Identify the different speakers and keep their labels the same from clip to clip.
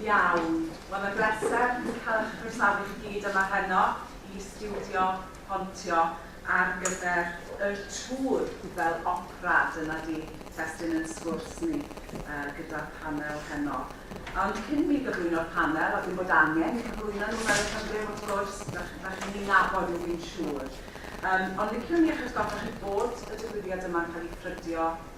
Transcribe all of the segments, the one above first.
Speaker 1: Iawn, wel mae'n bleser cael eich croesawu chi gyd yma heno i stiwdio Pontio ar gyfer y tŵr fel opera, dyna di testun yn sgwrs ni gyda'r panel heno. Ond cyn mi gyflwyno'r panel, a dwi'n bod angen i gyflwyno nhw fel y cyfryw wrth gwrs, dach chi'n eu nabod nhw fi'n siŵr, ond liciwn i eich atgoffa chi bod y digwyddiad yma'n cael ei ffrydio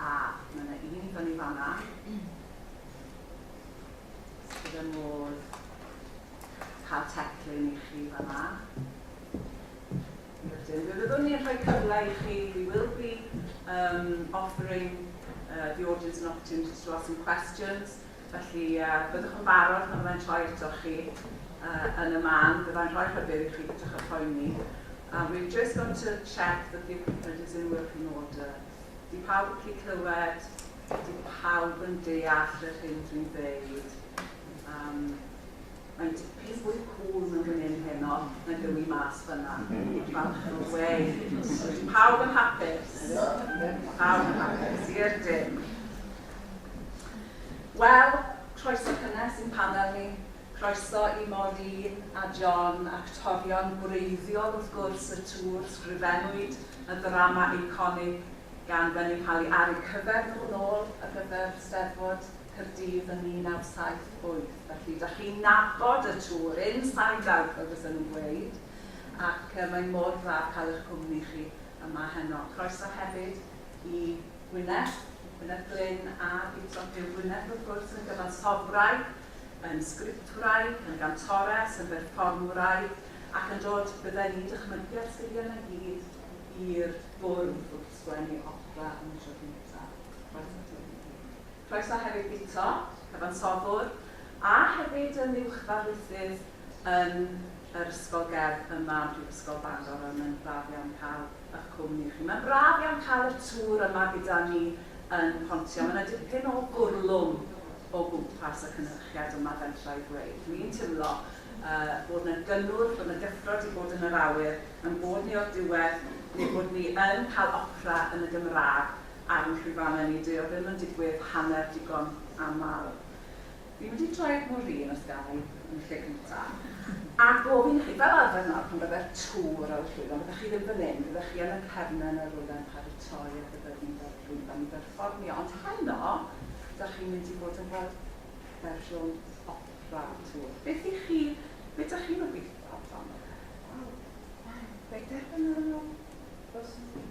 Speaker 1: A, mae yna un i fyny fan yna. Sydd yn modd cael teclyn i chi fan yna. Rydyn, mi fyddwn ni'n rhoi cyfle i chi, we will be um, offering uh, the audience an opportunity to ask some questions. Felly, byddwch yn barod pan fyddai'n troi atoch chi yn y man, byddai'n rhoi rhybudd i chi peidiwch â phoeni. We've just got to check that the equipment is in working order. Ydy pawb yn gallu clywed? Ydy pawb yn deall yr hyn dwi'n ddeud? Um, mae'n dipyn fwy cŵl mewn fan hyn heno nag yw i mas fyna. Falch yn y we. Ydy pawb yn hapus? Pawb yn hapus, i'r dim. Wel, croeso cynnes i'n panel ni. Croeso i Maureen a John, actorion gwreiddiol wrth gwrs y tŵr, sgrifennwyd y ddrama eiconig gan Gwenyn Pali ar eu cyfer nhw nôl ar gyfer Steddfod Caerdydd yn 1978. Felly, da chi'n nabod y tŵr, inside out fel fysen nhw'n gweud, ac mae mor dda cael eich cwmni chi yma heno. Croeso hefyd i Wynedd, i Gwynedd Glyn a i Tropheu Gwynedd wrth gwrs, yn gyfansoddwraig, yn sgriptwraig, yn gantores, yn berfformwraig ac yn dod, bydden i'n dychmygu, â'r sgiliau yna i gyd i'r bwrdd wrth sgwennu opera am y tro cyntaf. Croeso ti Wynedd. Croeso hefyd Guto, cyfansoddwr, a hefyd yn uwchddarlithydd yn yr Ysgol Gerdd yma ym Mhrifysgol Bangor a mae'n braf iawn cael y'ch cwmni chi. Mae'n braf iawn cael y tŵr yma gyda ni yn Pontio. Mae 'na dipyn o gwrlwm o gwmpas y cynhyrchiad yma fentra i ddweud. Dw i'n timlo yy bod 'na gynnwrf, bod 'na gyffrod i fod yn yr awyr, ein bod ni o'r diwedd neu bod ni yn cael opera yn y Gymraeg. Ar y llwyfannau ni dyw e ddim yn digwydd hanner digon aml. Fi'n mynd i droi'r mwrîn os ga i, yn y lle cynta. A gofyn i chi, fel arfer nawr pan fydde'r tŵr ar y llwyfan, fyddech chi ddim fan 'yn, fyddech chi yn y cefnen yn rywle yn paratoi ar gyfer mynd ar y llwyfan i berfformio, ond heno, dach chi'n mynd i fod yn fel fersiwn opera o'r tŵr. Beth i chi, be dach chi'n obeithio amdano fe? Wel, wel, fe derbynion nhw, fel swn i'n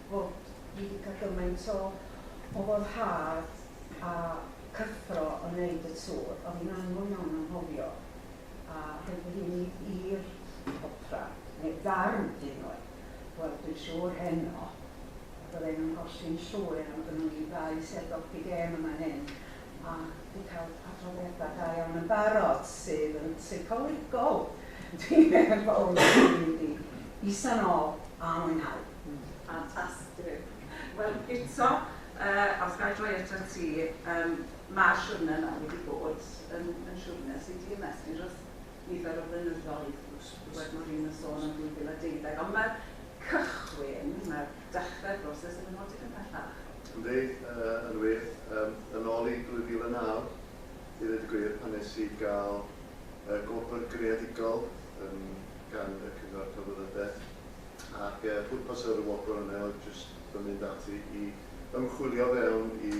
Speaker 2: fod dwi 'di cael gymaint o o foddhad a cyffro yn neud y tŵr, o'dd hi'n anodd iawn anghofio, a rhaid fi ni i'r opera, neu ddarn hyd yn oed, wel dwi'n siŵr heno bydden nhw'n golli'n llwyr am gynno ni ddau sêr doggy gêm yn fan hyn, a di cael adroddiada da iawn yn barod, sydd yn seicolegol dwi'n meddwl, i isa'n ôl a mwynhau. Ffantastig.
Speaker 1: Wel eto yy os ga i droi atat ti yym ma'r siwrne yma wedi bod yn yn siwrne sy di ymestyn dros nifer o flynyddoedd dwed Moreen yn sôn am 2012 ond ma'r cychwyn ma'r dechre'r broses ddim yn ddod digon pellach. Yndi yy
Speaker 3: yn wir yym yn ôl i 2009 i ddeud y gwir pan nes i ga'l y gwobr greadigol yn gan y Cyngor Celfyddydau, ac y pwrpas o'r wobr yna oedd jyst fy mynd ati i ymchwilio fewn i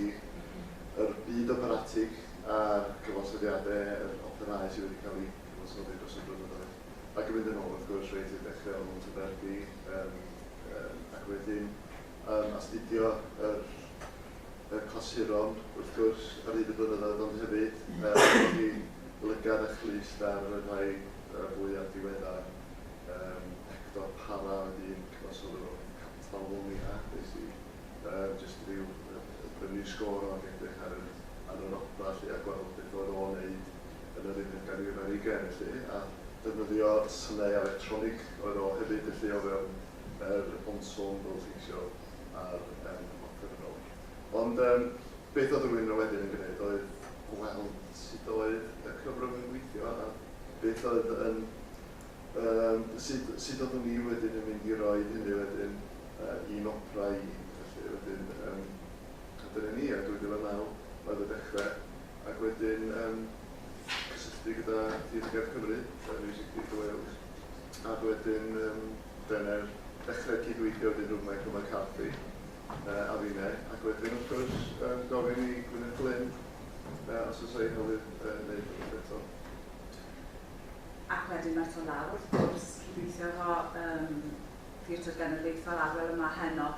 Speaker 3: yr byd operatig a'r cyfansoddiadau, yr operâu sydd wedi cael eu cyfansoddi dros y blynyddoedd, ac yn mynd yn ôl wrth gwrs reit i'r dechrau o Mhontyberdi, ac wedyn yn astudio yr y clasuron wrth gwrs ar hyd y blynyddoedd ond hefyd er bod hi'n lygad a chlyst ar y rhai yy fwya diweddar yym Hector Parra oedd un cyfansoddwr o Catalwnia nes i yy jyst ryw yy brynu sgôr o ag edrych ar yr ar yr odfa 'lly a gweld beth oedd o'n neud yn yr unfed ganrif ar ugain felly a defnyddio synau electronig oedd o hefyd felly o fewn yr ensemble teithio ar em Hopcyn y Gog. Ond em beth oedd rhywun yna wedyn yn gwneud oedd gweld sut oedd y cyfrwng yn gweithio a beth oedd yn em sut sut oeddwn i wedyn yn mynd i roi hynny wedyn eh i'n opera i felly wedyn em a dyna ni a 2009 oedd y dechre ac wedyn em cysylltu gyda Theatr Gerdd Cymru eh Music Theatre Wales a wedyn yym dyne'r dechre cydweithio wedyn rhwng Michael McCarthy yy a finne ac wedyn wrth gwrs yym gofyn i Gwyneth Glyn yy os o's 'na un newydd yy neud rwbeth eto. Ac
Speaker 1: wedyn ma' eto lawr wrth gwrs cydweithio efo yym Theatr Genedlaethol Arwel yma heno,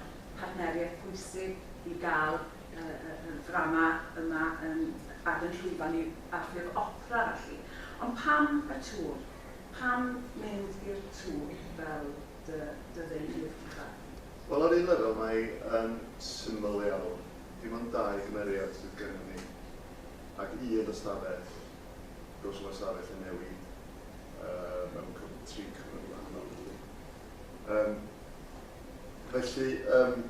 Speaker 1: partneriaeth pwysig i ga'l yy yy yr ddrama yma yn ar 'yn llwyfan ni a'r ffurf opera felly. Ond pam y tŵr? Pam mynd i'r tŵr fel dy dy ddeilydd uchaf? Wel, ar un lefel
Speaker 3: mae yn syml iawn. Dim ond dau gymeriad sydd gennym ni, ac un ystafell. Does yna ystafell yn newid yy mewn cyf- tri cyfnod gwahanol felly. Yym felly yym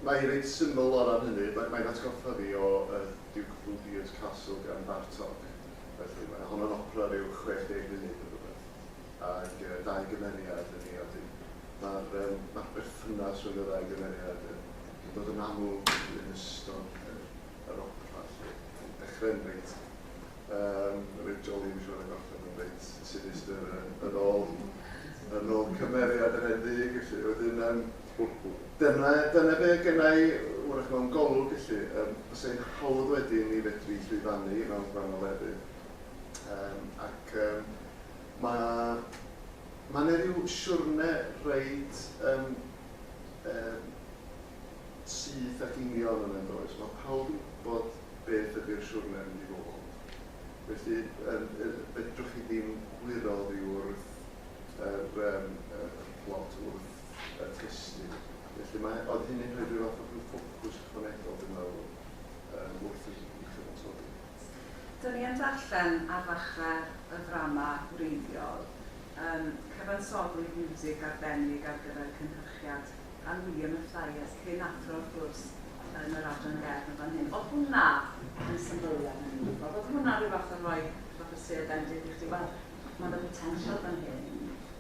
Speaker 3: mae hi reit syml o ran hynny. Mae mae'n atgoffa fi o yy Duke of Budea's Castle gan Bartók. Felly, mae hon yn opera ryw 60 munud neu rywbeth, ag yy dau gymeriad yn ei awdu. Ma'r yym ma'r berthynas rhwng y ddau gymeriad yn yn dod yn amlwg yn ystod yr yr opera 'lly. Yn dechre'n reit yym reit joli dwi siŵr a gorffen yn reit sinistr yy yn ôl yn ôl cymeriad yr hen ddig felly. Wedyn yym Dyna, dyna be oedd genna i, wrach, mewn golwg, felly. Yym, bysa hi'n hawdd wedyn i ni fedru llwyfannu mewn gwahanol lefydd. Yym, ac yym, mae, mae 'na ryw siwrne reit, yym, yym, syth ac union yna, yn does? Mae pawb yn gwybod beth ydy'r siwrne'n mynd i fod. Felly, yym, yy, fedrwch chi ddim gwyro oddi wrth yr, yym, yr plot, wrth y testun. Felly mae... oedd hynny'n rhoi rhyw fath o ryw ffocws ychwanegol dwi'n meddwl yym wrth i i chyfansoddi. Do'n
Speaker 1: i yn darllen ar ddechrau y ddrama wreiddiol yym cyfansoddwyd miwsig arbennig ar gyfer cynhyrchiad gan William Mathias cyn athro wrth gwrs yn yr Adran Gerdd yn fan hyn. Oedd hwnna yn symbylu ar hynny? Oedd oedd hwnna ryw fath o roi rhyw fath o sêr bendith i chdi, wel ma' 'na botensial fan hyn?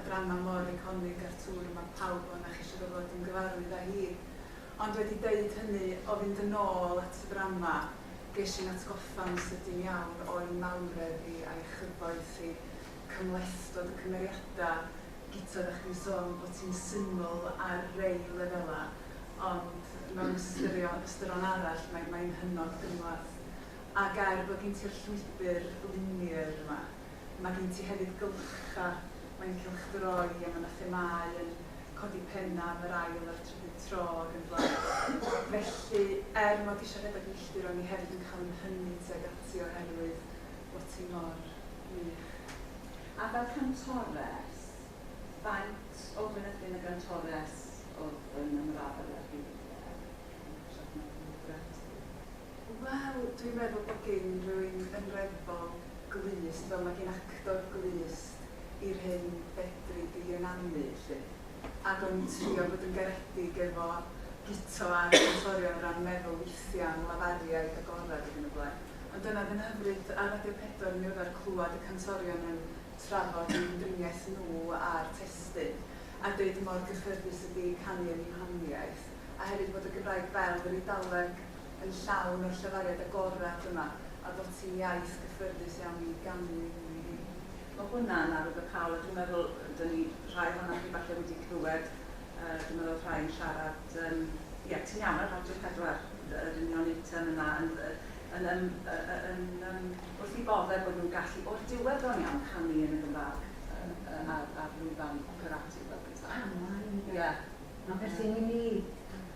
Speaker 4: adrannau mor eiconig â'r tŵr yma pawb o na'ch eisiau gorfod ymgyfarwydd â hi. Ond wedi deud hynny, o fynd yn ôl at y ddrama, ges i'n atgoffa'n sydyn iawn o'i mawredd hi a'i chyfoeth hi, cymhlethdod y cymeriadau, Guto oeddach chdi'n sôn bod ti'n syml ar rei lefelau, ond mewn ystyrio- ystyron arall mae mae'n hynod gymhleth. A ger bod gin ti'r llwybr linear yma, Mae gen ti hefyd gylcha, mae'n cylchdroi a mae 'na themâu yn codi pennau am yr ail a'r trydydd tro ac yn y blaen. Felly, er mod i isio rhedeg milltir o'n i hefyd yn cael fy nhynnu tuag ati oherwydd bod ti mor wych. A
Speaker 2: fel cantores, faint o fynydyn a gantores oedd yn ymrafael â'r byd e? Siarad am dy lyfrau ti.
Speaker 4: Wel, dwi'n meddwl bod gin rywun yn reddfol glust, fel mae gin actor glust, i'r hyn fedri di ynganu, 'lly. Ac o'n i'n trio bod yn garedig efo Guto a'r cantorion o ran meddwl weithiau am lafariaid agored ac yn y blaen. Ond dyna oedd yn hyfryd ar Radio Pedwar yn ddiweddar clywed y cantorion yn trafod eu hymdriniaeth nhw a'r testun, a deud mor gyffyrddus ydi canu yn eu honiaith, a hefyd bod y Gymraeg fel yr Eidaleg. yn llawn o'r llefariad agored yma a bod ti'n iaith gyffyrddus iawn i ganu ynddi hi. Mae hwnna'n
Speaker 1: arwyddocaol a dwi'n meddwl da ni rhai ohonoch chi falle wedi clywed, dwi'n meddwl rhai yn siarad, yym, ie, ti'n iawn ar Radio 4, yr union eitem yna, yn, yn, yn, yn, yn, wrth i bodde bod nhw'n gallu, o'r diwedd bron iawn, canu yn y Gymraeg ar lwyfan operati fel petai. Pan mae, ynde. Ie. Felly, mi
Speaker 2: ni,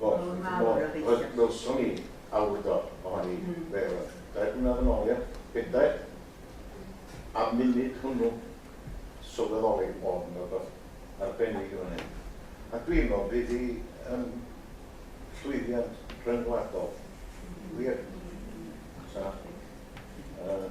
Speaker 2: Wel, Wel, mae chimod, mor obeithiol.
Speaker 5: wel, welson ni awdurdod ohoni, be' o'dd o, dair blynadd yn ôl, ia? Bedair? A munud hwnnw, sylweddoli bod 'na rwbath arbennig yn fan hyn. A dwi'n me'wl bydd 'i yn llwyddiant rhyngwladol. Wir. Sa. Yy.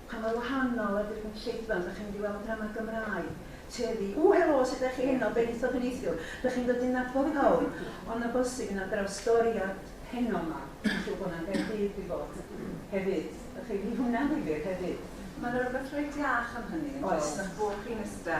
Speaker 2: Pa mor wahanol ydy'r gynulleidfa? Ydych chi'n mynd i weld drama Gymraeg? Teddy, Ww helo, sut ydych chi heno? Benaethiaid a neithiwr, dych chi'n dod i nabod pawb, ond na bosib i na drawstoriad heno 'ma, dwi'n siŵr bod 'na yn Gaerdydd 'di bod hefyd, dych chi, fydd hwnna'n ddifyr hefyd. Mae 'na rywbeth reit
Speaker 1: iach am hynny, yn does? Oes. Mae'ch bwrdd chi'n iste.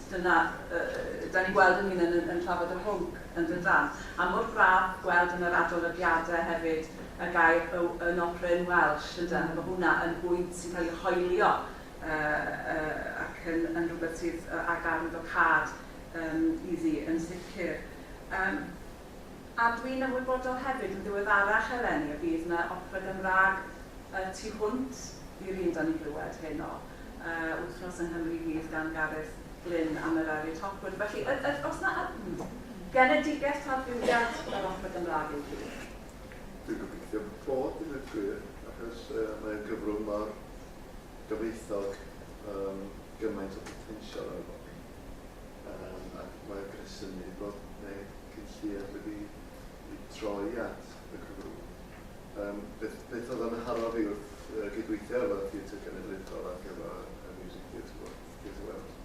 Speaker 1: Dyna, yy, 'dan ni'n gweld ein hunain yn yn trafod y hwnc, yn dyndan? A mor braf gweld yn yr adolygiadau hefyd y gair yw yn opera in Welsh, ynde? Mae hwnna yn bwynt sy'n cael ei hoelio, yy, yy, ac yn yn rhywbeth sydd, yy, â garn docâd, yym, iddi, yn sicr. Yym. A dwi'n ymwybodol hefyd yn ddiweddarach eleni y bydd 'na opera Gymraeg y tu hwnt i'r un 'da ni'n glywed heno, yy Wythnos yng Nghymru Fydd gan Gareth Glyn a Merari Topwood. Felly yd- yd- oes 'na yd- genedigaeth tradfuddiad yr opera Gymraeg i'w gilydd? Dwi'n gobeithio
Speaker 3: bod i ddweud gwir, achos yy mae o'n gyfrwng mor gyfoethog, yym gymaint o botensial arno fo. Yym, ac mae'r gresynu bod ne cyn lleied wedi i droi at y Cymru. Yym, beth, beth oedd yn nharo fi wrth yy gydweithio efo Theatr Genedlaethol ar gyfer y Music Theatre World, Theatre World,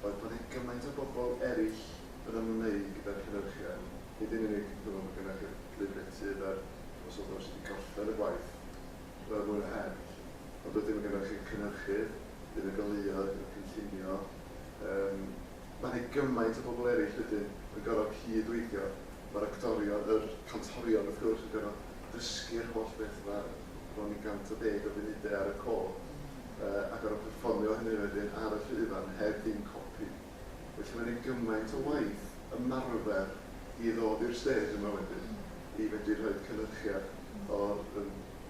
Speaker 3: oedd bod ne gymaint o bobl erill yn ymwneud gyda'r cynyrchion, nid yn unig dwi'n meddwl bod gennych chi'r Llyfrgellydd a'r Dywysoges wedi gorffen y gwaith, roedd mwy na eraill, ond wedyn mae gennych chi'r cynyrchydd, Bydd y goleuodd yn cynllunio yym ma' 'ne gymaint o bobl eryll wedyn yn gor'o' cyd-weithio, ma'r actorion, yr cantorion wrth gwrs yn gor'o' dysgu'r holl beth 'ma, bron i 110 o funude ar y co, yy a gor'o' perfformio hynny wedyn ar y llwyfan heb ddim copi. Felly ma' 'ne gymaint o waith ymarfer i ddod i'r stêj yma wedyn i fedru rhoid cynyrchiad o'r yym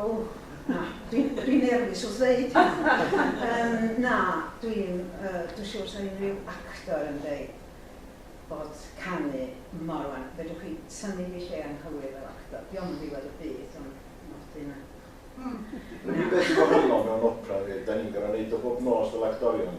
Speaker 2: O, na, dwi'n, dwi'n nerfus wrth ddeud hynna. Yym, na, dwi'n, yy, dwi'n siŵr 'sa unrhyw actor yn deud bod canu mor wan. Fedrwch chi tynnu fi lle anghywir fel actor, 'di o'm yn ddiwedd y byd, ond nodi na. Yr
Speaker 5: unig beth sy'n wahanol mewn opera yw, 'dan ni'n gor'o' neud o bob nos fel actorion.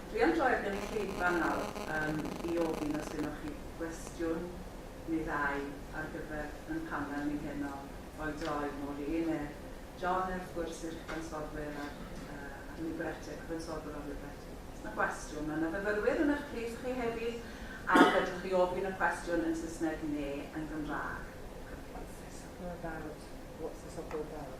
Speaker 1: Dwi am droi'r gynulleidfa nawr yym i ofyn os gynnoch chi gwestiwn neu ddau ar gyfer yn panel ni heno, rhoi droi nôl i Ene, John wrth gwrs i'r cyfansodwyr a'r yy a'r librettio, cyfansodwr o'r librettio. Os na gwestiwn, ma' na fyfyrwyr yn ych plith chi hefyd a fedrwch chi ofyn y cwestiwn yn Saesneg ne yn Gymraeg. What's the supper about?
Speaker 6: What's the supper about?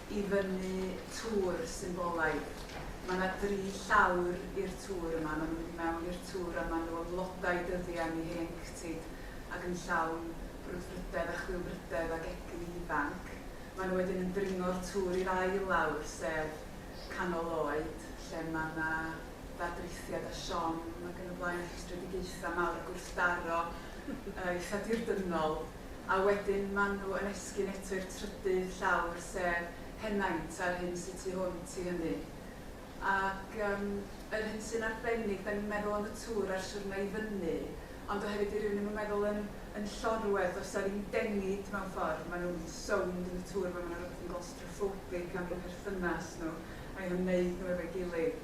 Speaker 4: i fyny tŵr symbolaidd. Mae 'na dri llawr i'r tŵr yma, maen nhw'n mynd i mewn i'r tŵr a maen nhw ym mlodau dyddiau ni hen cytid ac yn llawn brwdfrydedd a chwilfrydedd ac egni ifanc. Maen nhw wedyn yn dringo'r tŵr i'r ail lawr, sef canol oed, lle mae 'na ddadrithiad a siom ac yn y blaen a rhwystredigaethau mawr a gwrthdaro eitha' dirdynol. a wedyn ma' nhw yn esgyn eto i'r trydydd llawr, sef henaint a'r hyn sy tu hwnt i hynny. Ac yym yr hyn sy'n arbennig, 'dan ni'n meddwl am y tŵr a'r siwrne i fyny, ond oherwydd dyw rywun ddim yn meddwl yn yn llorwerth, does 'na ddim dengid mewn ffordd, maen nhw'n sownd yn y tŵr 'ma, ma' 'na rywbeth yn glostrophobic am eu perthynas nhw a'u hymwneud nhw efo'i gilydd.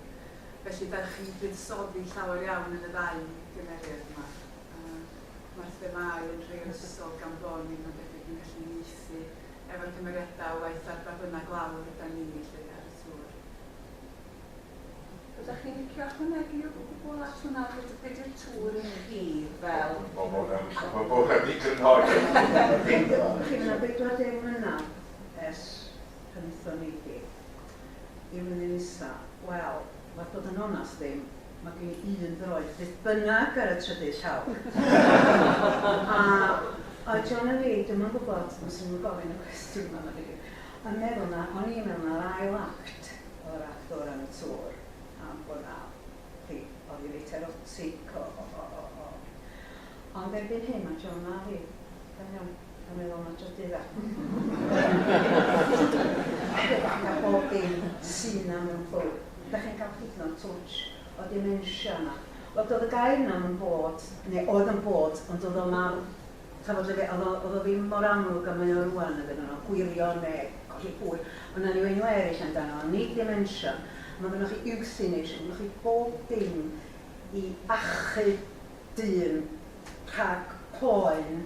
Speaker 4: Felly dewch i fuddsoddi llawer iawn yn y ddau gymeriad 'ma. mae'r themâu yn rhai o'r ysgol gan bo ni mae'n debyg yn gallu ieithu efo'r cymeriadau waeth ar ba bynnag lawr ydan ni 'lly ar y tŵr.
Speaker 1: Ydach chi'n licio ychwanegu o gwbwl at hwnna be be di'r tŵr i chi fel? Mae hwn yn mae
Speaker 5: hwn yn ddigon hawdd. Dach chi'n meddwl
Speaker 2: 40 mlynedd ers pan aethon ni i Gymru Nesa? Wel, werth bod yn onast ddim. Mae gen i un ddoeth beth bynnag ar y trydydd llawr. a oedd John a Lee, dyma'n gwybod, os ydyn nhw'n gofyn y cwestiwn yma, mae gen yn meddwl na o'n i mewn ar ail act o'r act o'r am y tŵr, am bod na, chi, oedd i reit erotic o, o, o, o, o. Ond erbyn hyn mae John a Lee, da iawn. A meddwl na trydydd a. Cyfan a bob dim sy 'na mewn clwb. Dach chi'n cael hyd yn oed twtsh o dementia yna. Wel do'dd y gair 'na 'm yn bod, neu oedd yn bod, ond do'dd o'm ar, ch'mod o'dd e, o'dd o ddim mor amlwg a mae o rŵan iddyn nhw, o gwirio ne' colli pwy, ond 'na ni o enw eryll amdano fo, nid dementia. Ma' gynnoch chi euthanasia, ma' gynnoch chi bob dim i achub dyn rhag poen.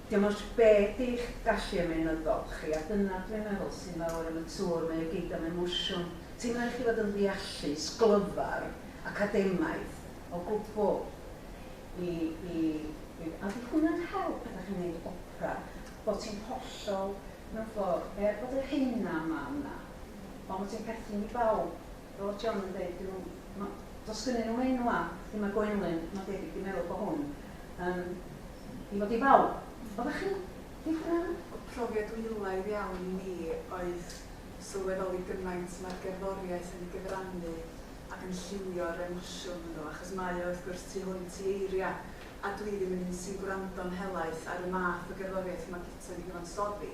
Speaker 2: Dim ots be di'ch gallu ymaenyddol chi, a dyna dwi'n meddwl sy'n fawr am y tŵr, mae o gyd am emosiwn. Ti'm yn rhaid i chi fod yn ddeallus, glyfar, academaidd, o gwbl i i i A 'di hwnna'n help pan 'dach chi'n neud opera, bo ti'n hollol, mewn ffordd, er bod y rheina 'ma yna, ond bo ti'n perthyn i bawb? Fel John yn deud, dyw nhw... ma'... does gynnyn nhw enw a lle mae Gwenlyn, mae'n debyg, di meddwl bod hwn yn i fod i bawb. Oeddech chi'n ddiffyn? O profiad
Speaker 4: dwyloaidd iawn i mi oedd sylweddoli gymaint mae'r gerddoriaeth yn ei gyfrannu ac yn lliwio'r emosiwn hwnnw, achos mae o wrth gwrs tu hwnt i eiriau, a dwi ddim yn un sy'n gwrando'n helaeth ar y math o gerddoriaeth mae Guto yn ei gyfansoddi.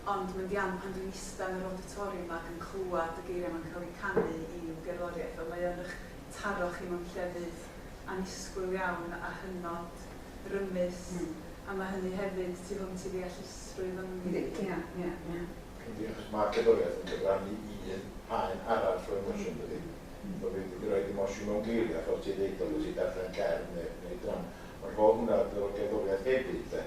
Speaker 4: ond mae'n ddiamb pan dwi'n ista yn yr awditoriwm ac yn clywed y geiriau 'ma'n cael eu canu i'w gerddoriaeth, fel mae o yn eich taro chi mewn llefydd annisgwyl iawn a hynod rymus, a mae hynny hefyd tu hwnt i ddeallusrwydd ynddi. Yndi, ia, ia, ia. Yndi, achos
Speaker 2: mae
Speaker 5: cerddoriaeth yn cyfrannu un haen arall o emosiwn, yn dydi? Fel fi'n mynd i roid emosiwn mewn geiriau, fel ti'n ddeud, os ti'n darllen cerdd neu ddrama, ond rho hwnna fel gerddoriaeth hefyd, de.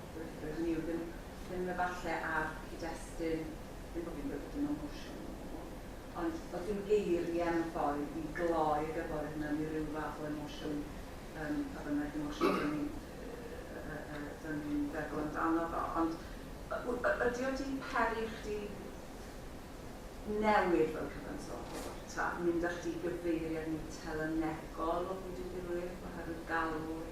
Speaker 1: Rydyn ni ddim ddim efallai ar cyd-destun, ddim bod fi'n gweud bod dim emosiwn o gwbl, ond does dim geiriau mewn ffordd i gloi y gerddoriaeth mewn i ryw fath o emosiwn, yym, pa bynnag emosiwn dan ni'n yy yy yy dan ni'n feddwl amdano fo, ond y- w- y- ydy o 'di peri i chdi newid fel cyfansoddiwr, ta mynd â chdi gyfeiriad mwy telynegol o fyd y diwylliant oherwydd galw'r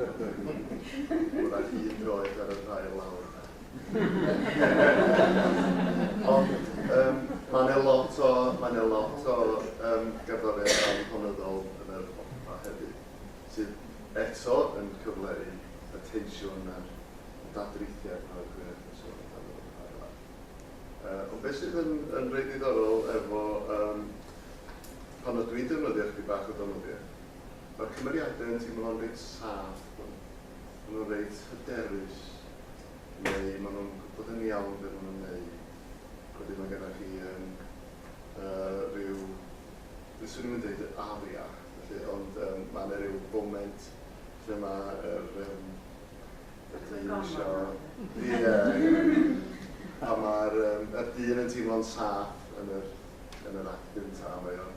Speaker 3: Wrach hyd yn oed ar y rhail lawr yna. Ond um, mae yna lot o, mae yna lot o um, gerddoriaeth anhonyddol yn yr opera hefyd, sydd eto yn cyfleu y tensiwn a'r dadrithiad yma o'r gwir yn sôn amdano yn rhail lawr. Uh, ond beth sydd yn, yn rhaid ddiddorol efo um, pan o dwi'n defnyddio chdi bach o dynoddiau, Ma'r cymeriade yn teimlo'n reit saff, ma' nhw'n reit hyderus, neu ma' nhw'n gwbod yn iawn be' ma' nhw'n neud. Wedyn ma' gennoch chi yym yy ryw, dwi swn i'm yn deud aria, felly, ond yym ma' na ryw foment lle ma' yr yym y dyn isio, ie, pan ma'r yym y dyn yn teimlo'n saff yn yr yn yr act gynta, mae o'n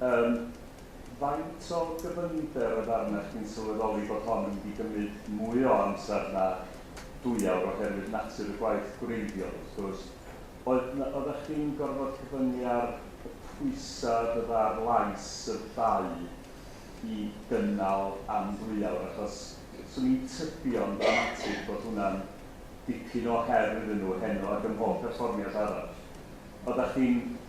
Speaker 6: Yym, faint o gyfyngder oedd arna chdi'n sylweddoli bod hon yn mynd i gymryd mwy o amser na dwy awr oherwydd natur y gwaith gwreiddiol, wrth gwrs? Oedd 'na, oeddach chdi'n gorfod cyfyngu ar y pwysau oedd oedd ar lais y ddau i gynnal am ddwy awr? Achos 'swn i'n tybio'n ddramatig bod hwnna'n dipyn o her iddyn nhw heno ac ym mhob perfformiad arall. Oeddach chdi'n...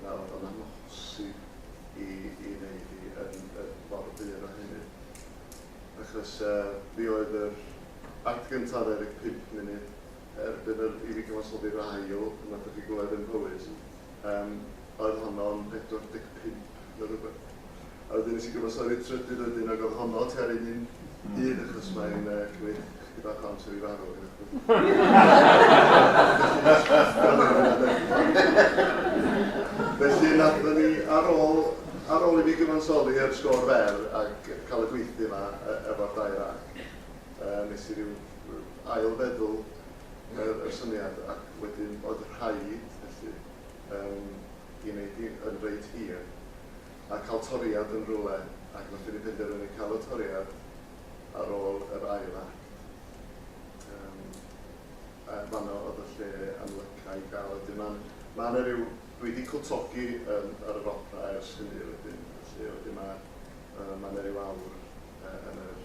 Speaker 3: fel bod o'n amhosib i i wneud hi yn y ffordd bur o hynny. Achos uh, fi oedd yr act gyntaf ddedeg pump munud, erbyn yr, i fi cyfansoddi'r ail, pan ydych chi glywed yn Mhowys, um, oedd honno'n 45 ne rywbeth. A wedyn nes i gyfansoddi'r trydydd wedyn ag oedd honno ti ar un un un achos mae'n uh, cymryd chdi bach o amser i farw. Felly nathon ni ar ôl ar ôl i mi gyfansoddi ar sgôr fer ac cael y gweithdy yma efo'r dau ra, uh, nes i ryw ail feddwl yr, y syniad ac wedyn oedd rhaid felly Yn gwneud hi yn reit hir. A cael toriad yn rywle, ac nathon ni penderfynu cael y toriad ar ôl yr ail act. Yym a fanno odd y lle yn lyca i ga'l y dim an- ma' na ryw dwi di cwtogi yn ar yr opera ers hynny wedyn felly wedyn ma' yy ma' na ryw awr yy yn yr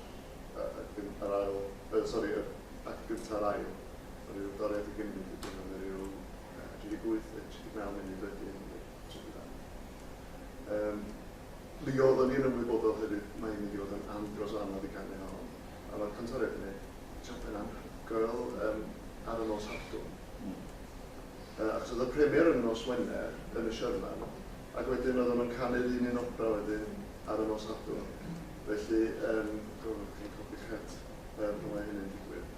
Speaker 3: yy yy gyn- yr ail yy sori yr act gynta a'r ail ma' ryw doriad i gymyd wedyn ma' na ryw Yy dwi 'di bwyth y tri deg naw munud wedyn i'r tri deg naw. Yym, mi oeddwn i yn ymwybodol hefyd mai yn mynd i fod yn andros o anodd i ganu hon, a ma'r cantoriaid yn neud job yn anhygoel yym ar y nos Sadwrn. Yy achos o'dd y premier yn y nos Wener yn y Sherman, ac wedyn oeddwn yn canu'r un un opera wedyn ar y nos Sadwrn, felly yym, gorfod codi 'ch het yy pan mae hynny'n digwydd.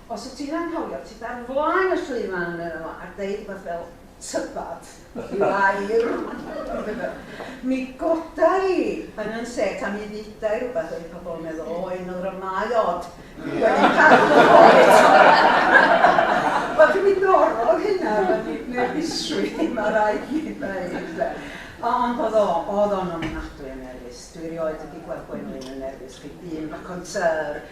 Speaker 2: Os wt ti'n anghofio, tyd ar flaen y llwyfan, medda fo, a deud rwbath fel 'tybad i Fair'. Mi goda i yn 'yn set a mi dduda i rwbath oedd i pobl yn meddwl, o, un o ddramâu od wedi cadw oes. Wel, dwi dorrodd hynna efo nerfusrwydd i, ma' raid mi ddeud 'de. Ond o'dd o, o'dd o'n ofnadwy o nerfus. Dwi erioed wedi gweld Gwenlyn yn nerfus, ch'mod, un raconteur.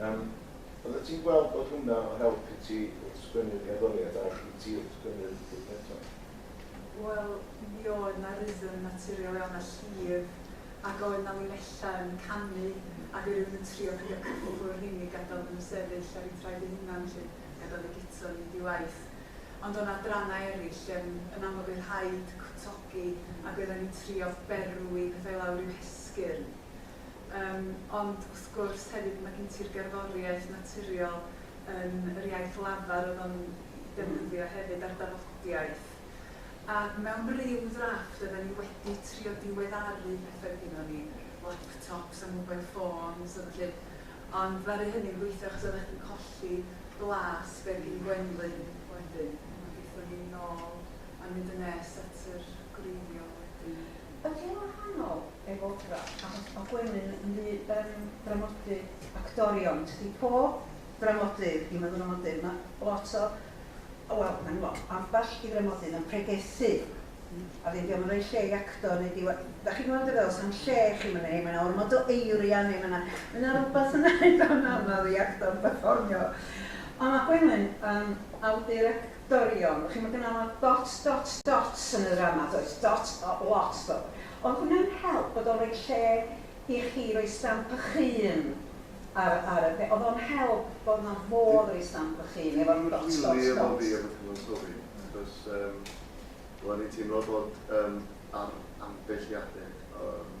Speaker 5: Yym, byddet ti'n gweld bod hwnna o help i ti wrth sgwennu'r gerddoriaeth a i ti wrth sgwennu'r llyfrgelloedd? Wel,
Speaker 4: mi oedd 'na rythm naturiol iawn a llif, ac oedd 'na linellau yn canu, ac oedd rhywun yn trio peidio cyffwrdd y rheiny, gadael iddyn nhw sefyll ar eu traed eu hunain 'lly, gadael eu guto i fynd i waith. Ond o' 'na adrannau eraill, yym, yn amlwg oedd rhaid cwtogi, ac oeddan ni'n trio berwi pethau i lawr i'w hesgyrn. Yym, ond wrth gwrs, hefyd, mae gen ti'r gerddoriaeth naturiol yn yr iaith lafar oedd o'n 'i defnyddio hefyd, a'r dafodiaith. A mewn ryw ddrafft oedden ni wedi trio diweddaru petha oedd gynnon ni, laptops a mobile phones a ballu, ond ddaru hynny'm gweithio achos oeddach chdi'n colli blas be' oedd gin Gwenlyn wedyn. A gethon ni nôl a mynd yn nes at yr gwreiddiol wedyn. Ydy o'n wahanol
Speaker 2: ef opera? Achos o Gwenyn yn ddu ben dramodydd actorion, tydi pob dramodydd i meddwramodydd, mae lot o, wel, mae'n lot, ambell i ddramodydd yn pregethu, a ddim dio'm yn rhoi lle i actor neu diwa-, dach chi'n gweld be' feddwl, sa'm lle i chi myna, neu mae 'na ormod o eiria neu mae 'na, mae 'na rywbeth yna eitha' anaml i actor berfformio. Ond mae Gwenwyn yn awdur ac Dorion, chi'n gwybod gynna fo dot dot dot yn y ddrama does, dot a lot dodd. Oedd hwnna'n help bod o'n rhoi lle i chi roi stamp y'ch hun ar ar y pe- oedd o'n help bod yna fodd roi stamp y'ch hun efo'r dot dot dot? Dim yn wir efo fi efo
Speaker 3: cyfansoddi achos yym o'n i'n teimlo bod yym ar ambell i adeg yym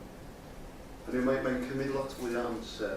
Speaker 3: hynny yw mae mae'n cymryd lot fwy o amser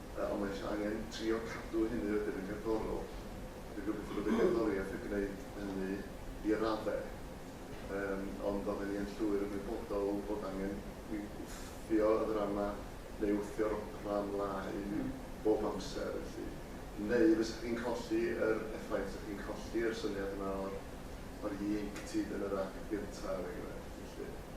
Speaker 3: Ond mae eisiau angen trio cadw hynny wedyn yn gerddorol. Dwi'n gobeithio bod y gerddoriaeth yn gwneud hynny i raddau. Yym, ond oedden ni yn llwyr ymwybodol bod angen i wthio y ddrama neu wthio'r opera ymlaen bob amser, felly. Neu fysa chi'n colli yr effaith, fysa chi'n colli yr syniad yma o'r, o'r ieuenctid yn yr act gynta', er enghraifft, felly.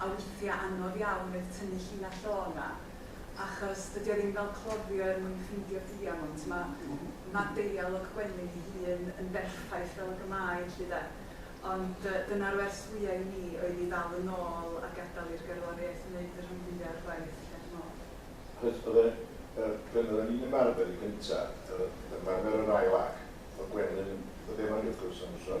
Speaker 4: a withia anodd iawn oedd tynnu llinell o 'na achos dydi o ddim fel cloddio er mwyn ffindio diamwnt, ma' ma' deialog Gwenyn ei hun yn berffaith fel ag y mae 'lly 'de. Ond yy dyna'r wers fwya i mi oedd i ddal yn ôl a gadal i'r gerddoriaeth wneud y rhan fwya o'r gwaith 'lly dwi me'wl. Achos oedd y y
Speaker 5: pryn oedden ni'n ymarfer i gynta, yr ymarfer yr ail ac, oedd Gwenyn yn dod efo ni wrth gwrs am y tro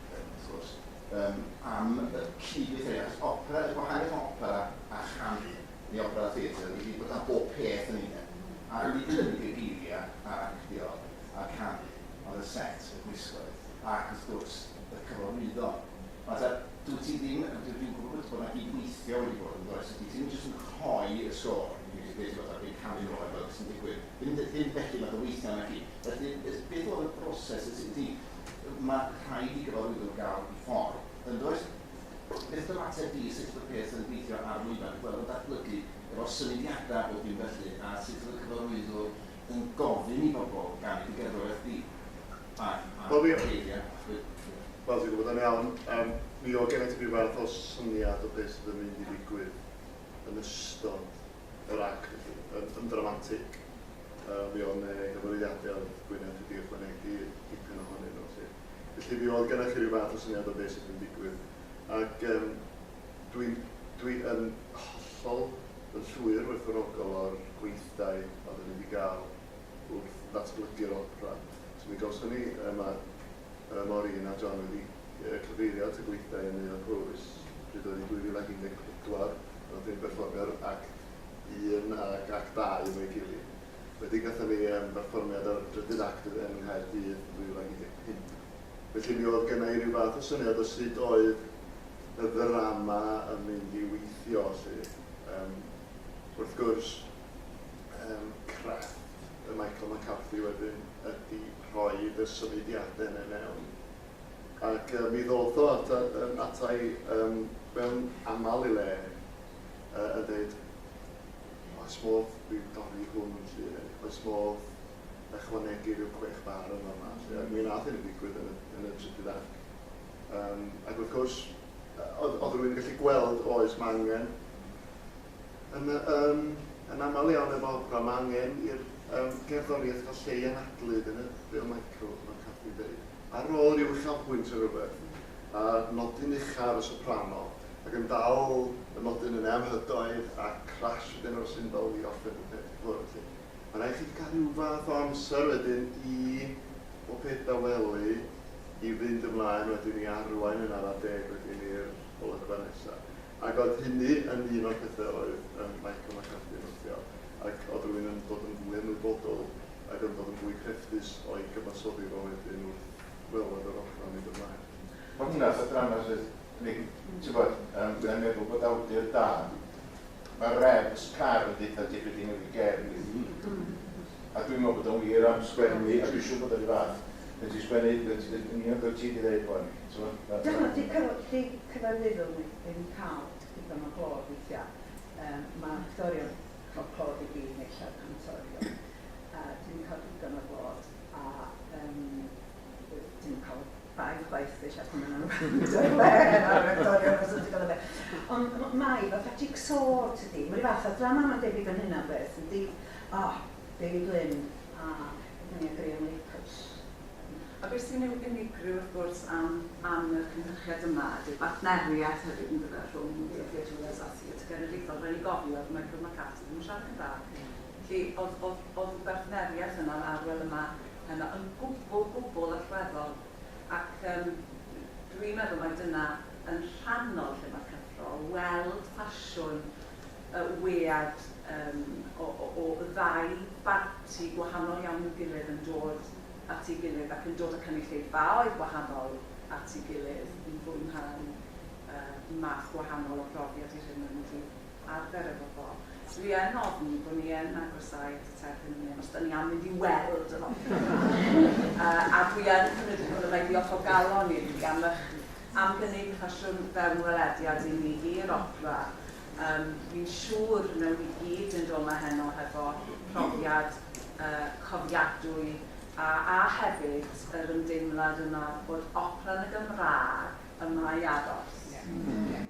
Speaker 7: wrth gwrs, yym am y cyd-weithredu, achos opera, y gwahaniaeth rhwng opera a chanu, neu opera a theatr, ydi bod 'na bob peth yn un. A nid yn unig y geiriau a'r actio a'r canu, ond y set, y gwisgoedd, ac wrth gwrs, y cyfarwyddo. Nawr ta, dwyt ti ddim, dw- dwi'n gwybod bod bod 'na gyd-weithio wedi bod, yn does, felly ti ddim jyst yn rhoi y sgôr, neu jyst deud ti fatha dwi'n canu nôl a gweld be sy'n digwydd. Ddim ddim felly fath o weithio naci? Felly, beth oedd y broses, y ti, ma' rhaid i gyfarwyddwr gael i ffordd, yn does? Beth yw'r ateb di, sut yw'r peth yn gweithio ar lwyfan, gweld y datblygu efo'r symudiadau a bob dim felly, a sut yw'r cyfarwyddwr yn gofyn i bobl gael eu gerddoriaeth di? A, a, Wel, fi- geiriau,
Speaker 3: achos... Wel, ti'n gwybod yn iawn, yym, mi oedd gennyt ti ryw fath o syniad o beth sydd yn mynd i ddigwydd yn ystod yr ac yn yn ddramatig. Yy mi o'dd 'ne gyfarwyddiade o'dd Gwyneth wedi ychwanegu dipyn ohonyn nhw 'lly. Felly mi o'dd gennoch chi ryw fath o syniad o be' sydd yn digwydd. Ac yym dwi dwi yn hollol yn llwyr werthfawrogol o'r gweithdai oedden ni 'di ga'l wrth ddatblygu'r opera. So mi gawson ni yy ma' Yy, Maureen a John wedi yy cyfeirio at y gweithdai yn Neuadd Powys pryd oedd hi 2014 pan nathon ni berfformio'r act un ac act dau efo'i gilydd. Wedyn gathon ni yym berfformiad ar y drydydd act yn yn Nghaerdydd yn 2015. Felly mi o'dd gynna i ryw fath o syniad o sud oedd y ddrama yn mynd i weithio 'lly. Yym, wrth gwrs, um, crefft y Michael McCarthy wedyn ydy rhoi y symudiadau yna mewn. Ac uh, mi ddodd o at, um, atai um, mewn aml i le uh, yn dweud, oes modd fi dorri hwn yn lle, oes modd ychwanegu rhyw chwech bar yn yma. Ac mi nath hyn yn digwydd yn y, yn y trydydd ac. Um, ac wrth gwrs, oedd rwy'n gallu gweld oes mae angen yn y yn yn aml iawn efo opera ma' angen i'r yym gerddoriaeth fod lle i anadlu dyna be' o' Michael fel Cathy'n deud. Ar ôl ryw uchafbwynt ne' rwbeth a nodyn ucha ar y soprano ac yn dal y nodyn yne am hydoedd a crash wedyn ar y cymbal i orffen y peth i ffwrdd 'lly. Ma' raid chi ca'l ryw fath o amser wedyn i bob peth dawelu i fynd ymlaen wedyn i arwain yn ara deg wedyn i'r olygfa nesa. Ac oedd hynny yn un o'r pethe oedd yym Michael McCarthy yn notio, ac oedd rywun yn dod yn fwy ymwybodol ac yn dod yn fwy crefftus o'i gyfansoddi fo wedyn wrth weled yr opera yn mynd ymlaen. Ma' hwnna fatha
Speaker 5: drama sydd yn ei... T'bod, yym dwi yn meddwl bod awdur da, ma' Rebs Carr yn deutha ti be' 'di newid ger fi, a dwi'n meddwl bod o'n wir am sgwennu, a dwi siŵr bod o 'ru' fath, pan ti'n sgwennu, ti'n deud yn union be' wyt ti 'di ddeud rŵan, Dyna 'di
Speaker 2: cyfarwyddwr ni ddim yn cael digon o glod weithiau. Yym ma' actorion yn cael clod i gyd neu llawer cantorion a dim yn cael digon o glod a yym dim yn cael baedd chwaith ella pan ma' nhw'n wrando ar wê ar actorion os ti'n gwybod be. Ond m- mae fatha jig-so tydi? Mae rhyw fath o ddrama mae'n debyg yn hynna o beth yndi? O! Dewi Glyn, A, dyna ni a Graham Lapus.
Speaker 1: A be sy'n ei unigryw wrth gwrs am am y cynhyrchiad yma ydy'r bartneriaeth hefyd yndyfe rhwng The Theatures a Theatr Genedlaethol. Rhaid ni gofio oedd Michael McCarthy ddim yn siarad Cymraeg. Felly oedd oedd oedd y bartneriaeth yna a'r arwel yma heno yn gwbl gwbl allweddol ac yym dwi'n meddwl mai dyna yn rhannol lle mae'r cyffro, weld ffasiwn y wead o ddau barti gwahanol iawn i'w gilydd yn dod at ei gilydd ac yn dod â cynulleidfaoedd gwahanol at ei gilydd i fwynhau math gwahanol o brofiad i'r hyn maen nhw wedi arfer efo fo. So fi yn ofni bod ni yn agosáu at y terfyn yn hyn, os dan ni am mynd i weld yr opera 'ma, a dwi yn cymryd yn siwr y mae diolch o galon i chi am eich am gynnig ffasiwn fewnwelediad i ni i'r opera. Yym, fi'n siŵr wnawn ni gyd fynd o 'ma heno hefo profiad yy cofiadwy a a hefyd yr ymdeimlad yna bod opera yn y Gymraeg y mae addos.